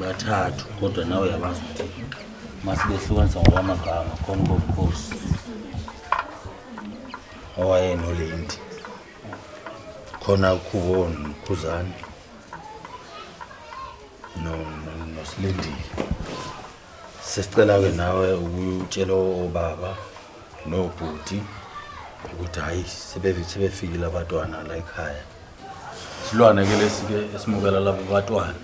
bathathu kodwa nawe uyabazi ukuthi masibehlukanisa ngokwamagama khona ubobukhosi owayenolenti khona ukhubo nokhuzane nosilindile sesicela-ke nawe ukutshela obaba nobhuti ukuthi hhayi sebefikile abatwana la ekhaya Silwane ke lesi ke esimukela labo batwana.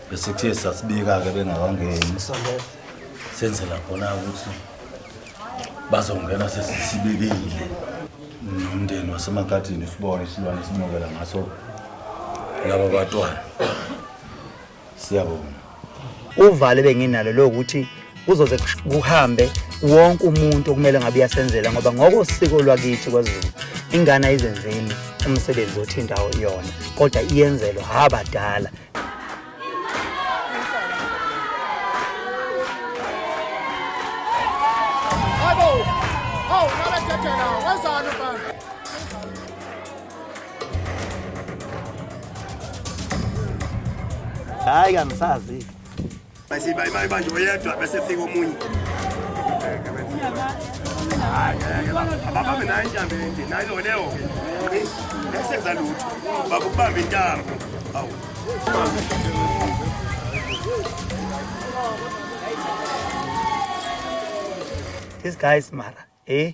Bese kuthe sasibika ke bengakangeni. Senzela khona ukuthi bazongena sesisibikile. Nomndeni wasemakhathini sibone isilwane simukela ngaso labo batwana. siyabonga uvalo benginalo lokuthi kuzoze kuhambe wonke umuntu okumele ngabe uyasenzela ngoba ngokosiko lwakithi kwaZulu ingane ayizenzeli umsebenzi othi indawo iyona kodwa iyenzelwa abadala Abo, oh, nalajajana, wazana bana. hayi kangisazi bese bayi bayi manje oyedwa bese fika omunye abababe nayo intambo ende nayo loleyo ke esenza lutho bakubamba intambo awu These guys mara eh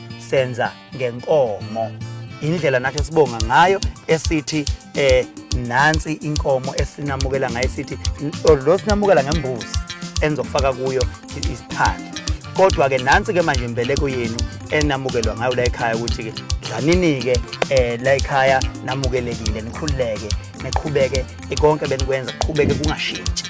senza ngenkomo indlela nathi esibonga ngayo esithi eh nansi inkomo esinamukela ngayo sithi lo sinamukela ngembuzi enizokufaka kuyo isiphande kodwa-ke nansi-ke manje imbeleko yenu enamukelwa ngayo la ekhaya ukuthi-ke dlanini-ke um la ekhaya namukelekile nikhululeke niqhubeke konke benikwenza kuqhubeke kungashintshi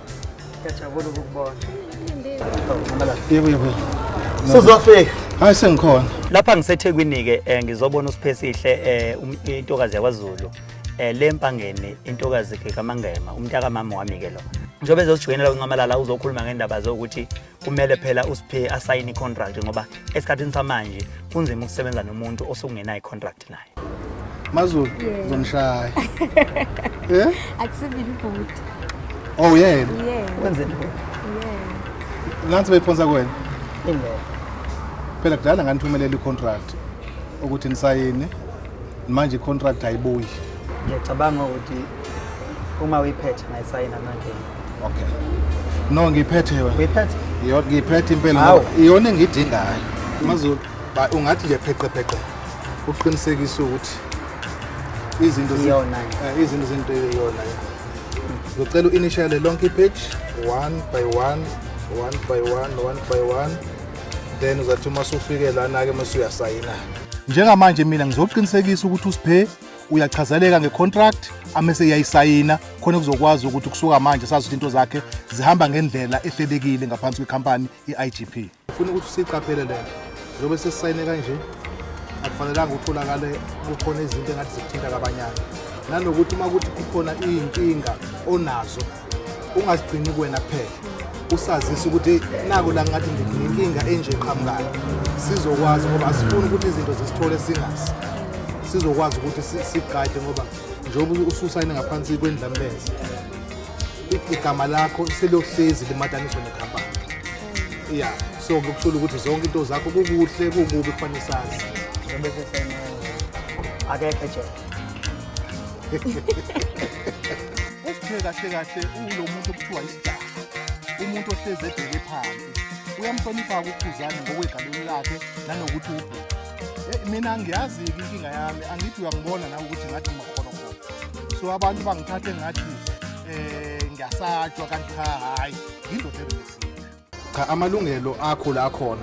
Ngiyajabula ukukubona. Sizofika. Hayi sengikhona. Lapha ngiseThekwini ke eh, ngizobona uSiphesihle eh, um- intokazi yakwaZulu eh, le mpangeni intokazi ke kaMangema umntaka mama wami ke lo. Njengoba ezojoyinela kuncamalala uzokhuluma ngendaba zokuthi kumele phela uSiphe asayine icontract ngoba esikhathini samanje kunzima ukusebenza nomuntu osekungenayo icontract. connect naye Mazulu Yeah. uzongishaya eh akusivile ibhuti oh yena yeah wenzeni wena yeah nansi beyiphonsa kuwena ingeke phela kudala nganithumelela i-contract ukuthi nisayine manje i-contract ayibuyi ngiyacabanga ukuthi uma uyiphethe ngayisayina manje okay no ngiyiphethe wena uyiphethe Iyo- ngiyiphethe impela Hawu. ngoba iyona engiyidingayo mazulu Ba ungathi nje pheqepheqe uqinisekise ukuthi izinto ziyona eh, izinto zinto iyona. Ngicela uinitiale lonke page one by one, one by one, one by one. Then uzathi uma usufike lana ke mase uyasayina. Njengamanje mina ngizoqinisekisa ukuthi usiphe uyachazeleka ngecontract amese iyayisayina khona kuzokwazi ukuthi kusuka manje sazi ukuthi into zakhe zihamba ngendlela ehlelekile ngaphansi kwecompany i-IGP Funa ukuthi siqaphele le nto njengoba sesisayine kanje akufanelanga utholakale kukhona izinto engathi zikuthinta kabanyana nanokuthi uma kuthi kukhona iy'nkinga onazo ungazigcini kuwena kuphela usazise ukuthi nako la ngathi nginenkinga enje eqhamukayo sizokwazi ngoba asifuni ukuthi izinto zisithole singazi sizokwazi ukuthi sigade ngoba njengoba ususayine ngaphansi kwendlamleza igama lakho selohlezi limataniswe nekhampani ya so kukusula ukuthi zonke into zakho kukuhle kukubi kufanele sazi njengoba esesenele akekho ejele Usiphe kahle kahle ulo muntu okuthiwa isidaka. Umuntu ohlezi ebheke phansi. Uyamhlonipha ukukhuzana ngokwegalelo lakhe nanokuthi ubhuti. Eh, Mina ngiyazi inkinga yami, angithi uyangibona nawe ukuthi ngathi ngimakhona khona. So abantu bangithathe ngathi eh ngiyasatshwa kanti cha hayi, ngindoda ebheke. cha amalungelo akho la khona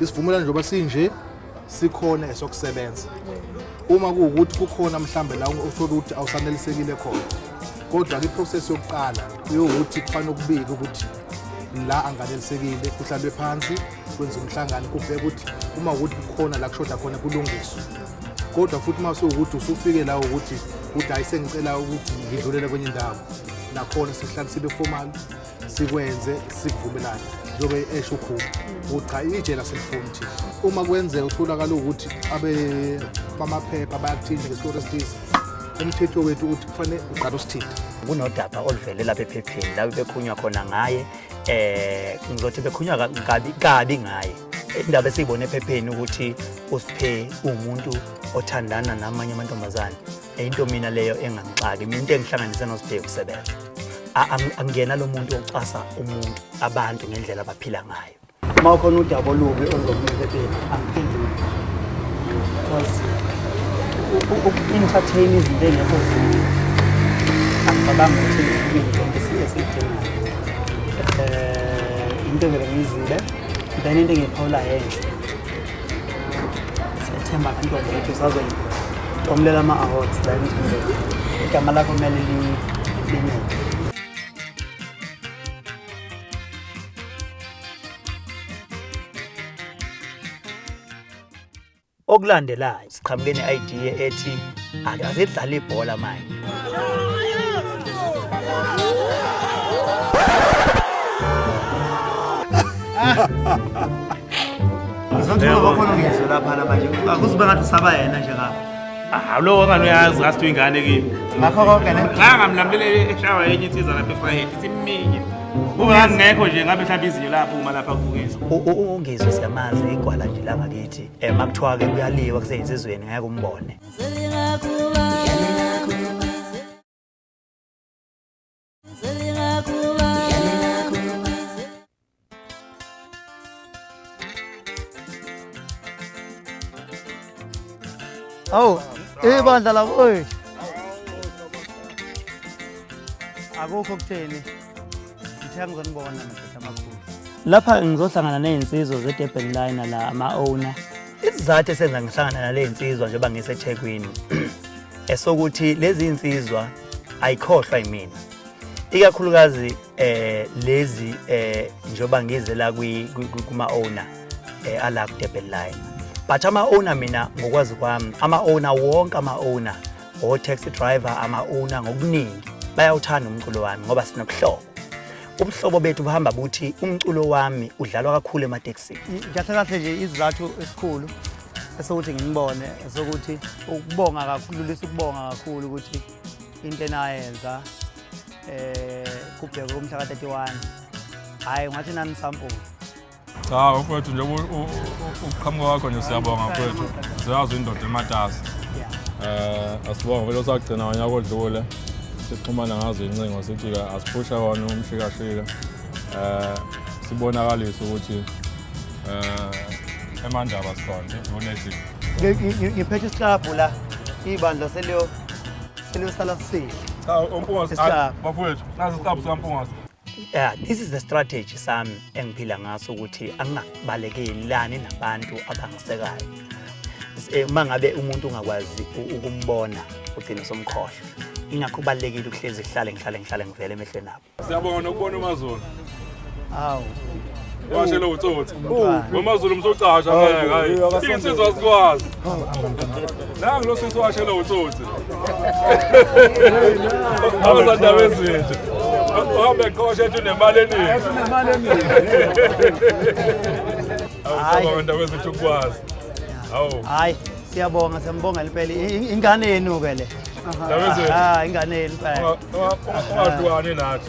isivumelwano njengoba sinje sikhona esokusebenza uma kuwukuthi kukhona mhlambe la uthole ukuthi awusanelisekile khona kodwa ke process yokuqala yokuthi kufanele ukubike ukuthi la anganelisekile kuhlalwe phansi kwenza umhlangano kubheka ukuthi uma ukuthi kukhona la kushoda khona kulungiswe kodwa futhi uma sewukuthi usufike la ukuthi udayise ngicela ukuthi ngidlulele kwenye indawo nakhona sihlale sibe formal sikwenze sivumelane njengoba esho ukhulu ukuthi cha itshe laselifuni thi uma kwenzeka utholakala ukuthi abe bamaphepha bayakuthinta ngesikoro esithize umthetho wethu ukuthi kufanele uqala usithinta kunodaba oluvele lapha ephepheni lapho bekhunywa khona ngaye eh ngizothi bekhunywa kabi kabi ngaye indaba esiyibona ephepheni ukuthi uSiphe umuntu othandana namanye amantombazane Into mina leyo engangixaki, mina into engihlanganise noSibheki usebenza. Angena lo muntu ocasa umuntu abantu ngendlela abaphila ngayo. Uma ukhona udaba olubi oluzokuphephepheni, angiphenduli. Because uku-entertain izinto engekho zinto. Angicabangi ukuthi ngikubili konke esikudingayo. Eh, into vele ngiyizile, then into engiyiphawula yenhle. Siyathemba kantombi ukuthi usazoyitomulela ama-awards la emzimbeni. Igama lakho kumele linyeke. Okulandelayo siqhamuke ne-idea ethi akasedlala ibhola manje Ngizothula bakhona ngizwe lapha namanje. Akuzibe ngathi usaba yena nje ngapha. Ah, lo ngani uyazi ngathi uyingane kimi. Ngakho konke ne. Cha ngamlamlele eshawa yenye insizwa lapha eFrayhead ithi miningi. Ungangekho nje ngabe mhlawumbe izinyo lapho uma lapha kubukisa. Ungizwe siyamazi igwala nje la ngakithi. um makuthiwa-ke kuyaliwa kuseyinsizweni ngeke umbone awu ibandla labo oy akukho kutheni lapha ngizohlangana ney'nsizwa ze-durban liner la ama-owner isizathu esenza ngihlangana nale nsizwa njengoba ngisethekwini esokuthi lezi nsizwa ayikhohlwa yimina ikakhulukazi eh lezi eh njengoba ngize la kuma owner eh ala ku Durban line but ama owner mina ngokwazi kwami ama owner wonke ama owner O-taxi driver ama-una ngokuningi bayawuthanda umculo wami ngoba sinobuhlobo ubuhlobo bethu buhamba buthi umculo wami udlalwa kakhulu ematekisini kahle kahle nje izizathu esikhulu esokuthi ngimubone esokuthi ukubonga kakhululisa ukubonga kakhulu ukuthi into enayenza um eh, kubhekwe kumhla ka-31 hhayi ngathi nanisampula Cha mfowethu nje ukuqhamuka kwakho nje siyabonga mfowethu. Siyazi indoda ematasa. Eh asibonga vele osagcina wanyaka odlule. Sixhumana ngazo incingo sithi ke asiphusha wona umshikashika. Eh sibonakalisa ukuthi eh emandaba sikhona unethi. Ngiphethe isihlabhu la ibandla seliyo seliyosala sihle. Cha umpungasi bafowethu nazi isihlabhu sikampungasi. yeah, this is the strategy sami engiphila ngaso ukuthi angingabalekeli nabantu abangisekayo eh, uma ngabe umuntu ungakwazi ukumbona ugcine somkhohlwa ingakho kubalulekile ukuhlezi kuhlale ngihlale ngihlale ngivele emehlweni abo siyabonga nokubona umazulu awu washela utsotsi wamazulu msocasha ngeke hayi insizwa sikwazi nangu lo sisi washela utsotsi abazandaba ezinje uhambe qosha ethi unemali eningi awusaba abantu abezethu ukwazi hawu hayi siyabonga siyambonga impela ingane yenu ke le ingane yenu phela ungahlukani nathi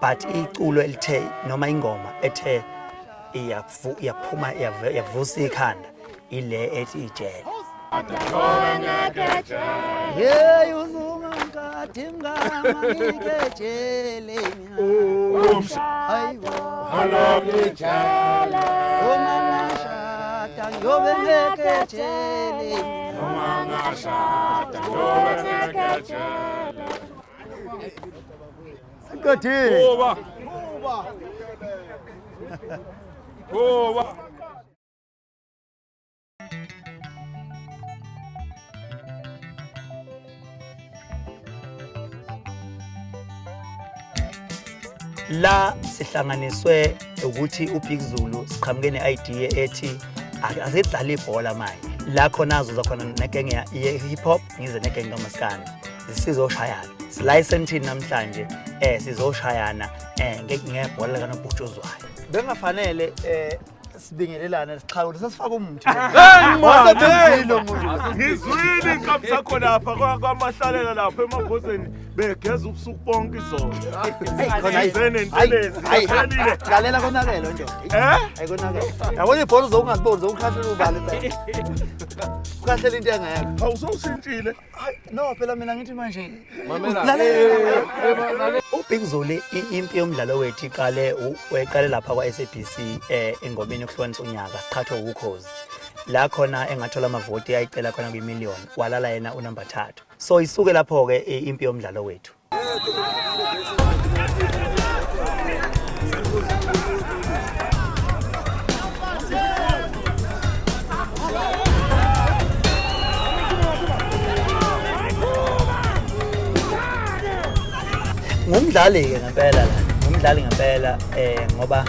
but iculo elithe noma ingoma ethe iyaphuma yavusa ikhanda ile ethi ijele yeyi uzungankathi mngamanikejeleni hayibo halokijele uma ngashada ngiyobe ngekejele uma ngashada ngiyobe ngekejele Siqedile. Kuba. Kuba. Kuba. la sihlanganiswe ukuthi uBig Zulu siqhamuke ne-idea ethi asidlale ibhola manje la khona azoza khona nekenge ye-hip hop ngize negenge kamaskane sizoshayana silayiseni thini namhlanje um sizoshayana um ngebhola likanobhutshuzwayo bengafanele um sibingelelane sixhawule sesifaka umuthi ngizwile inkabi sakho lapha kwamahlalela lapha emabhozeni begeza ubusuku bonke izolo izene ntelezi iphelile lalela konakele nje eh ayikonakele yabona ibhola uzokungaziboni zokukhahlula ubale ukhahlele into engekho awusowushintshile no phela mina ngithi manje ubig zoli impi yomdlalo wethu iqale weqale lapha kwa-sabc um eh, engomeni yokuhlukanisa unyaka siqhathwe wukhozi la khona engathola amavoti ayicela khona kwimillion walala yena unumber thathu so isuke lapho ke eh, impi yomdlalo wethu ngumdlali ke ngempela la ngumdlali ngempela eh ngoba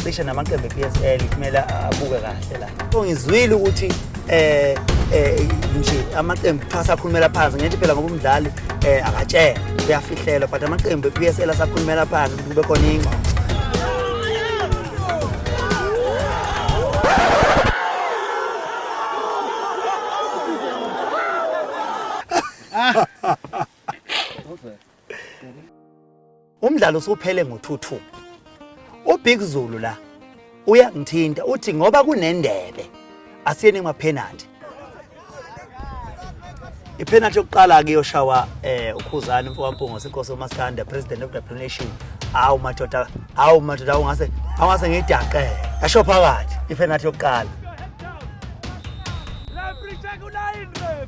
cishe namaqembu e-PSL kumele abuke kahle la Ngizwile ukuthi eh eh nje amaqembu cha sakhulumela phansi ngithi phela ngoba umdlali eh akatshela uyafihlela but amaqembu ePSL asakhulumela phansi kube khona ingxoxo Ah. Umdlalo usuphele ngo-2-2. UBig Zulu la uyangithinta uthi ngoba kunendebe asiyeni emapenalty. Ipenalty yokuqala ke yoshawa eh uKhuzani mfowampungo senkosi uMaskanda president of the nation. Awu madoda, awu madoda ungase awase ngidaqe. Yasho phakathi ipenalty yokuqala. Referee check ulayini referee.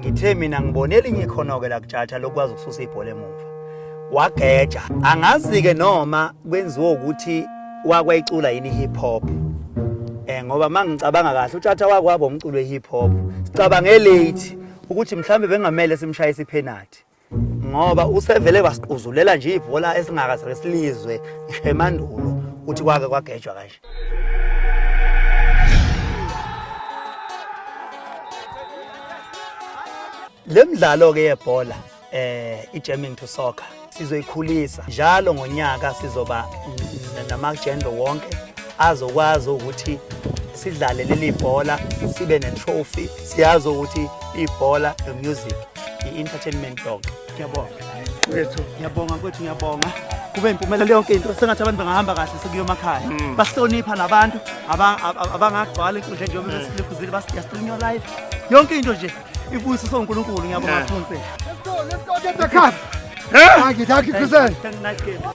ngithe mina ngibone elinye ikhono-ke lakutshatsha lokwazi ukususa ibhola emuva wageja angazi-ke noma kwenziwa ukuthi wakwayicula yini i-hip hop um ngoba uma ngicabanga kahle utshatsha wakwaba umculo we-hip hop sicabange late ukuthi mhlawumbe bengamele simshaye isiphenathi ngoba usevele wasiquzulela nje ibhola esingakaze silizwe ngisho emandulo ukuthi kwake kwagejwa kanje le mdlalo ke yebhola eh ijamming to soccer sizoyikhulisa njalo ngonyaka sizoba namagender wonke azokwazi ukuthi sidlale leli bhola sibe ne-trophy siyazi ukuthi ibhola nomusic i-entertainment yonke ngiyabonga wethu ngiyabonga kwethu ngiyabonga kube impumelelo yonke into sengathi abantu bangahamba kahle sekuyomakhaya mm. basihlonipha nabantu abangagcwala inkundla njengoba mm. besilikhuzile basiyasilinywa live yonke into nje ibuyiso sonkulunkulu ngiyabonga thunse Thank you, thank you, Kuzen. Nice game.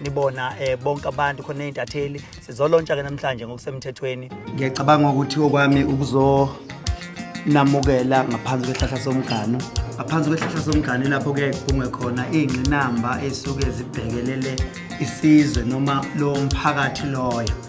nibona eh, bonke abantu khona izintatheli sizolontsha ke namhlanje ngokusemthethweni ngiyacabanga ukuthi okwami ukuzonamukela ngaphansi kwehlahla somgano ngaphansi kwehlahla somgano lapho kuye kuphungwe khona iy'ngqinamba ey'suke zibhekelele isizwe noma lowo mphakathi loyo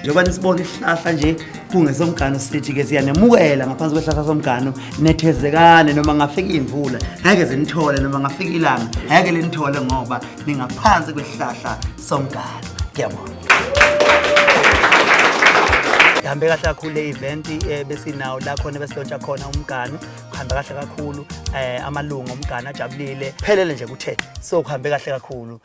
njengoba nisibona isihlahla nje kungesomgano sithi-ke siyanemukela ngaphansi kwehlahla somgano nethezekane noma ngafika imvula ngeke zinithole noma ngafika ilanga ngeke linithole ngoba ningaphansi kwehlahla somgano ngiyabona ihambe kahle kakhulu le event eh, besinawo la khona besilontsha khona umgano kuhambe kahle kakhulu eh, amalungu omgano ajabulile phelele nje kuthe so kuhambe kahle kakhulu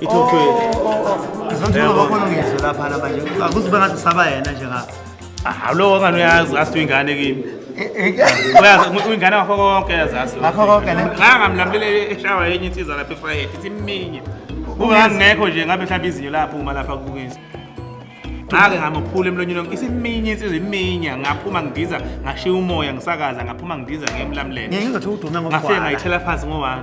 ithothwe Ngizothola bakhona ngizwe lapha la manje. Akuzibe ngathi saba yena nje ngapha. Ah, lowo ngane uyazi asithi ingane kimi uyazi ngi- ingane ngakho konke yazazi Ngakho konke, ne? ngangamlamulele eshawa yenye insiza lapha efrayed ithi miningi ungangekho nje ngabe mhlawumbe izinyo laphuma lapha kubukisa ngake ngamuphula emlonyeni wonke isiminye insizwa iminya ngaphuma ngidiza ngashiya umoya ngisakaza ngaphuma ngidiza ngiyemlamulele Ngeke ngizothi udume ngafike ngokugwala. ngayithela phansi ngowani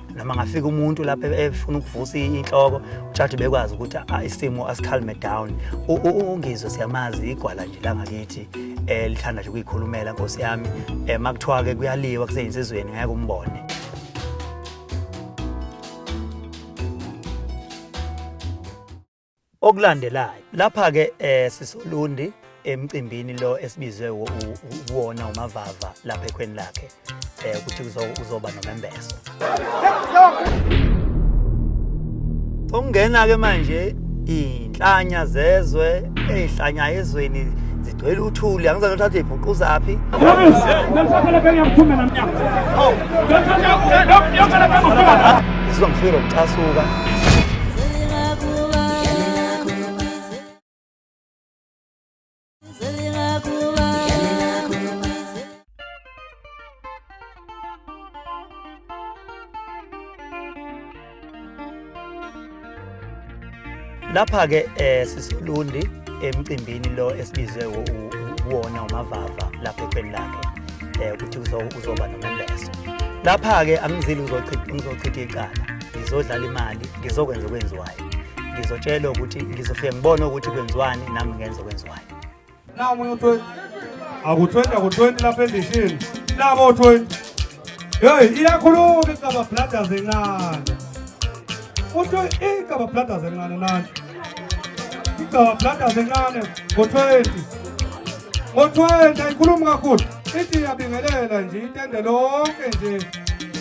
noma ngafika umuntu lapha e-, efuna ukuvusa inhloko ujaji bekwazi ukuthi ah, isimo asikhalme down ungizwe siyamazi igwala nje langakithi eh, lithanda nje ukuyikhulumela nkosi yami eh, makuthiwa ke kuyaliwa kuseyinsizweni ngeke umbone okulandelayo lapha-ke um sisolundi emcimbini lo esibizwe uwona umavava lapha ekhweni lakhe um ukuthi uzoba nomembeso ungena-ke manje iy'nhlanya zezwe ey'hlanya ezweni Ngicela uthuli angizange uthathe ibhuquzaphi. Ngizwa ngifike lokucasuka. lapha ke eh sisilundi emcimbini lo esibizwe uwona umavava lapha ekhweni lakhe eh ukuthi uzoba nomembeso lapha ke angizili uzochitha ngizochitha icala ngizodlala imali ngizokwenza okwenziwayo ngizotshelwa ukuthi ngizofike ngibone ukuthi kwenziwani nami ngenze okwenziwayo Nawu omunye u-20. Aku-20 aku-20 lapha endishini. Nabo u-20. Hey, iyakhuluma iGaba Brothers encane. Uthi iGaba Brothers encane nanti. iGaba Brothers encane ngo-20. Ngo-20 ayikhulumi kakhulu. Ithi iyabingelela nje itende lonke nje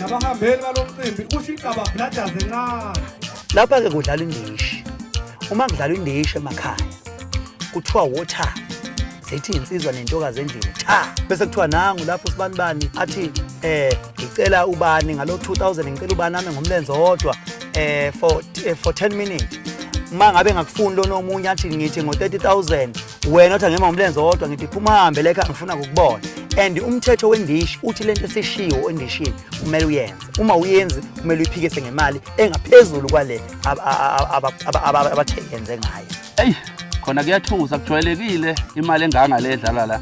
nabahambeli balo mcimbi usho iGaba Brothers encane. Lapha-ke kudlala indishi. Uma kudlalwa indishi emakhaya kuthiwa water zithi insizwa nentokazi endlini cha bese kuthiwa nangu lapho sibani bani athi eh ngicela ubani ngalo 2000 ngicela ubani nami ngomlenze wodwa eh for eh, for 10 minutes uma ngabe ngakufuni lona omunye athi ngithi ngo 30000 wena othi ngema ngomlenze wodwa ngithi phuma hambe leka ngifuna ukubona and umthetho wendishi uthi lento esishiwo endishini kumele uyenze uma uyenzi kumele uyiphikise ngemali engaphezulu kwale abathengenze ngayo eyi khona kuyathusa kujwayelekile imali enganga le edlala la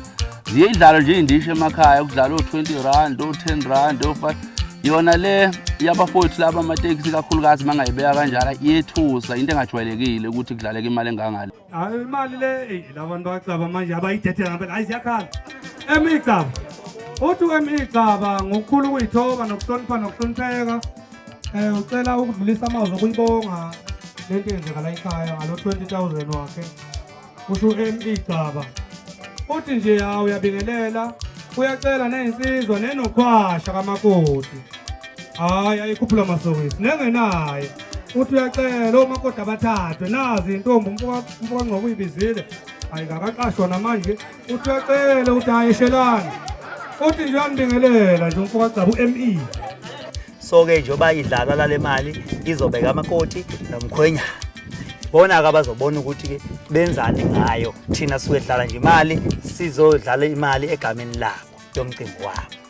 ziye idlalo nje iy'ndisho emakhaya kudlala o-twenty rand o-ten rand o-five yona le yabafowethu laba amatekisi kakhulukazi uma ngayibeka kanjalo iyethusa into engajwayelekile ukuthi kudlaleka imali engangale Hayi imali le eyi, la bantu bacaba manje abayithethe ngempela hayi ziyakhala emigcaba uthi emigcaba ngokukhulu ukuyithoba nokuhlonipha nokuhlonipheka um ucela ukudlulisa amazwi okuyibonga le nto yenzeka la ekhaya ngalo 20000 wakhe kusho emigcaba uthi nje hawu uyabingelela uyacela neyinsizwa nenokhwasha kamakoti hayi ayikhuphula masokisi nengenaye uthi uyacela omakoti abathathwe nazi intombi umfokangcobo uyibizile hayi kakaqashwa namanje uthi uyacela ukuthi hayi eshelani uthi nje uyambingelela nje umfokagcaba u-me so-ke njengoba idlalwa lale mali izobeka amakoti nomkhwenyana bona-ke abazobona ukuthi-ke benzani ngayo thina suke dlala nje imali sizodlala imali egameni labo yomcimbi wabo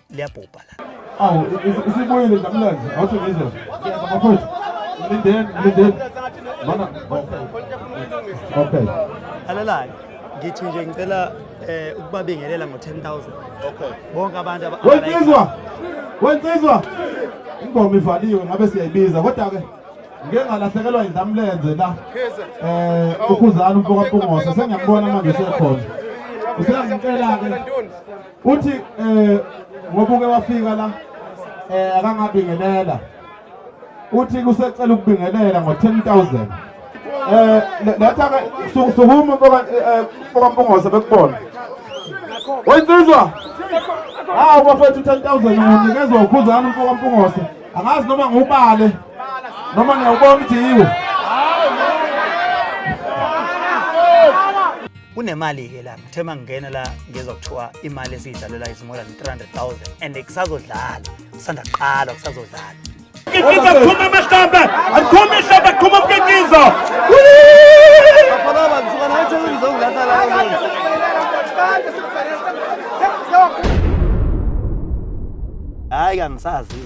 liyabhubha la awu isibuyile ndamlenze awuthi ngizwe mafowethu mlindeni mlindeni mana okay alalayo ngithi nje ngicela eh ukubabingelela ngo 10000 okay bonke abantu wensizwa wensizwa ingoma ivaliwe ngabe siyayibiza kodwa ke ngeke ngalahlekelwa indamlenze la eh ukhuzana umfoka Mpungose sengiyambona manje sekhona usengicela ke uthi eh ngoba uke wafika la eh akangabingelela uthi kusecela ukubingelela ngo 10000 eh letha ke sukuma boka eh, boka mpongose bekubona wensizwa hawu bafethu 10000 unikezwa ukhuzana umfoka mpongose angazi noma ngubale noma ngiyawubona ukuthi yiwo kunemali-ke la ngithe uma ngingena la ngizwa kuthiwa imali esiyidlalela is more than 300,000 and kusazodlala kusanda kuqala kusazodlala Mkitizo aphuma amahlamba aphuma ihlamba aphuma umkitizo hhayi kangisazi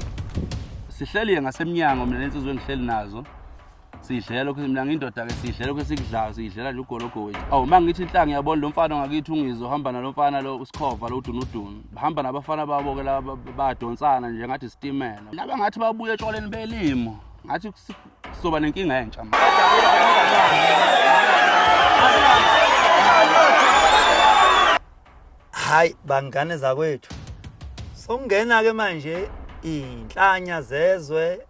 sihleliye ngasemnyango mina lensizwe engihleli nazo sidlela lokhu mina ngindoda ke sidlela lokhu esikudlayo sidlela nje ugologo wethu awu uma ngithi inhlanga yabona lo mfana ngakithi ungizo hamba nalo mfana lo usikhova lo udunudunu bahamba nabafana babo ke laba badonsana nje ngathi sitimela laba ngathi babuye etshwaleni belimo ngathi sizoba nenkinga entsha manje hayi bangane zakwethu sokungena ke manje inhlanya zezwe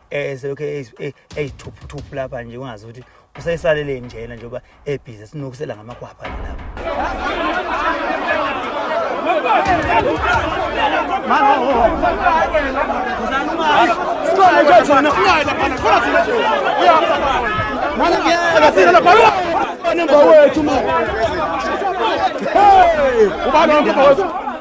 eh selokhu eyithuphuthuphu lapha nje ungazi ukuthi useyisalele njena njengoba ebhizi sinokusela ngamakwapha lapha Hey! Ubani wami mfowethu?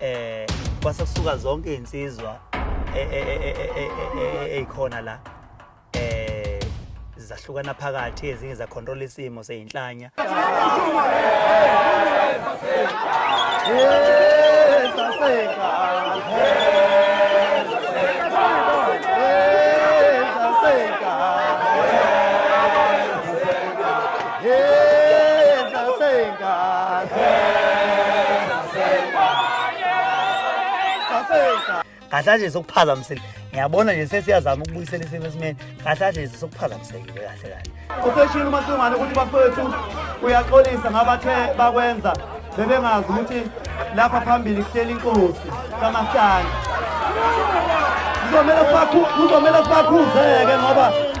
eh kwase kusuka zonke izinsizwa ezikhona la eh zahlukana phakathi ezinye za control isimo seyinhlanya kahle nje sokuphazamisile ngiyabona nje sesiyazama ukubuyisela isimo esimeni kahle nje sokuphazamisekile kahle kahle useshilo umasingwane ukuthi bafowethu uyaxolisa ngabathe bakwenza bebengazi ukuthi lapha phambili kuhleli inkosi kamasana kuzomele sibakhuze-ke ngoba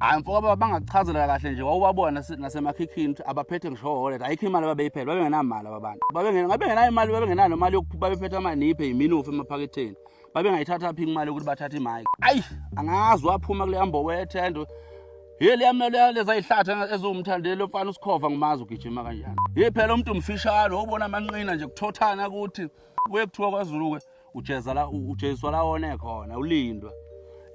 hayi mfoka baba bangakuchazela kahle nje wawubabona nasemakhikhini ukuthi abaphethe ngisho wallet ayikho imali babeyiphela babengenamali ababana babengenayo imali babengenayo nomali yokuphupha babephethe amaniphe yiminofu emaphaketheni babengayithatha phi imali yokuthi bathathe imike ayi angazi waphuma kuleya mbobo yethendo ye liyamele leza yihlathi eziwumthandeli lomfana usikhova ngimazi ugijima kanjani ye phela umuntu mfishane wobona amanqina nje kuthothana ukuthi kuye kuthiwa kwazulu-ke ujeza la ujeziswa la one khona ulindwa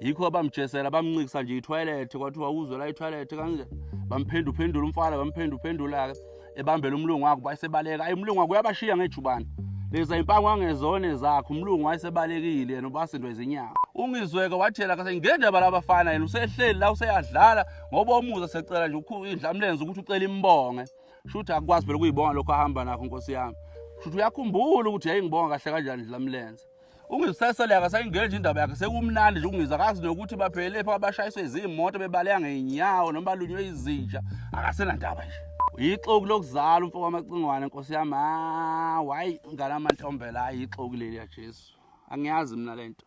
yikho bamjesela bamncikisa nje ithoyilethi kwathiwa uzwe la ithoyilethi kanje bamphendu phendula umfana bamphendu phendula ebambela umlungu wakhe bayisebaleka ayi umlungu wakhe uyabashiya ngejubane leza impango angezone zakhe umlungu wayesebalekile yena ubasindwe izinyawo ungizweke wathela kase ngendaba labafana yena usehleli la useyadlala ngoba umuza secela nje ukhu indlamlenze ukuthi ucela imbonge shuthi akukwazi phela ukuyibonga lokho ahamba nakho nkosi yami shuthi uyakhumbula ukuthi yayingibonga kahle kanjani ndlela mlenze ungisesele akasayingeni nje indaba yakhe sekumnandi nje ungiza akazi nokuthi baphelele pha abashayiswe izimoto bebaleka ngeenyawo noma balunywe izinja akasenandaba nje yixoki lokuzala umfo wamacingwane nkosi yami hayi ngalamantombela hayi yixoki leli ya Jesu angiyazi mina lento